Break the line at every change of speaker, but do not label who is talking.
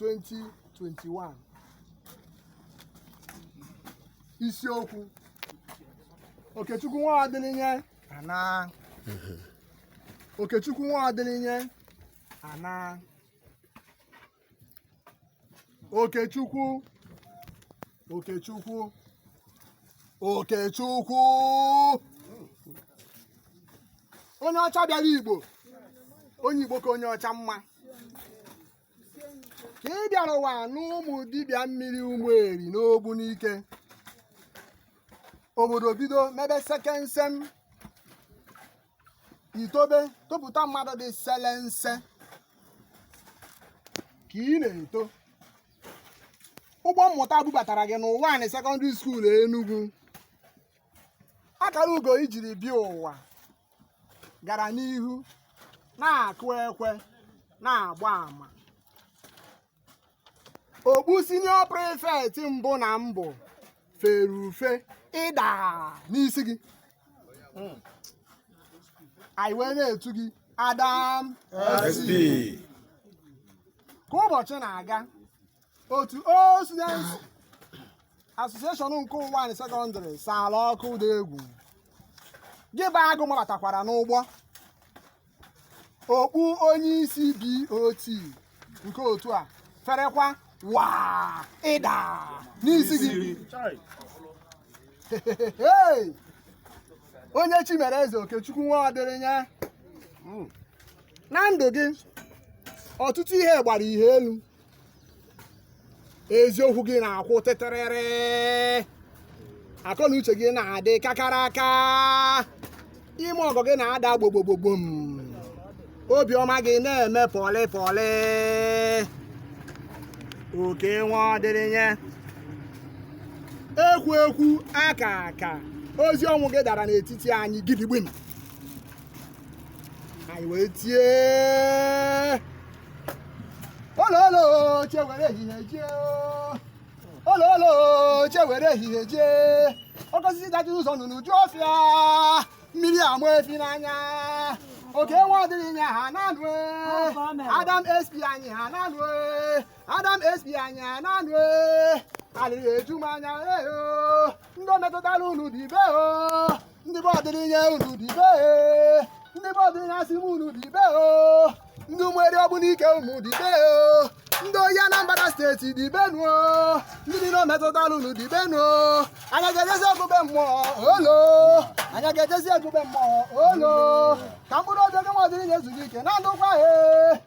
2021 isiokwu Okechukwu nwa Ọdịrịnye ana Okechukwu nwa Ọdịrịnye ana Okechukwu Okechukwu Okechukwu onye ọcha bịara Igbo onye Igbo ka onye ọcha mma ka ị bịara ụwa n'ụmụ dibịa mmiri Ụmụeri n'Ogbunike obodo bido mebe sekensem i tobe topụta mmadụ dị selense ka ị na-eto ụgbọ mmụta bubatara gị n'Ụwanị sekọndịrị skuul Enugu akara ugo i jiri bịa ụwa gara n'ihu na-akụ ekwe na-agba ama okpu senior prefect mbụ na mbụ fere ufe ịda n'isi gị anyị wee na-etu gị adam SP. ka ụbọchị na-aga otu old students association nke Ụwanị sekọndịrị saala ọkụ dị egwu gị bụ agụ mabatakwara n'ụgbọ okpu onye isi BOT nke otu a ferekwa waa ịda n'isi gị Hey! onye chi mere eze okechukwu nwa Ọdịrịnye na ndụ gị ọtụtụ ihe gbara ihe elu eziokwu gị na-akwụ tịtịrịrị akọ na uche gị na-adị kakaraka ime ọgọ gị na-ada gbogbogbogbom obiọma gị na-eme pọlị pọlị oke nwa Ọdịrịnye ekwu ekwu aka aka ozi ọnwụ gị dara n'etiti anyị gidigbim anyị wee tie ololo che were ehihie jee ololo che were ehihie jee oke osisi dachi ụzọ nnụnụ eju ọfịa mmiri ama efi n'anya oke nwa Ọdịrịnye anaa nụ adam sp anyị anaa nụ adam sp anyị anaa nụ alịrị eju m anya eyo ndị o metụtara unu dibe o ndị be Ọdịrịnye unu dibe ndị be Ọdịrịnye asị m unu dibe o ndị ụmụeri Ogbunike unu dibe o ndị oyi anambra steeti dibenụ o ndị niile o metụtara unu dibenụ o anyị ga-ejezi egwu be mmụọ olo anyị ga-ejezi egwu be mmụọ olo ka mkpụrụ obi Oke nwa Ọdịrịnye zuru ike na ndokwa he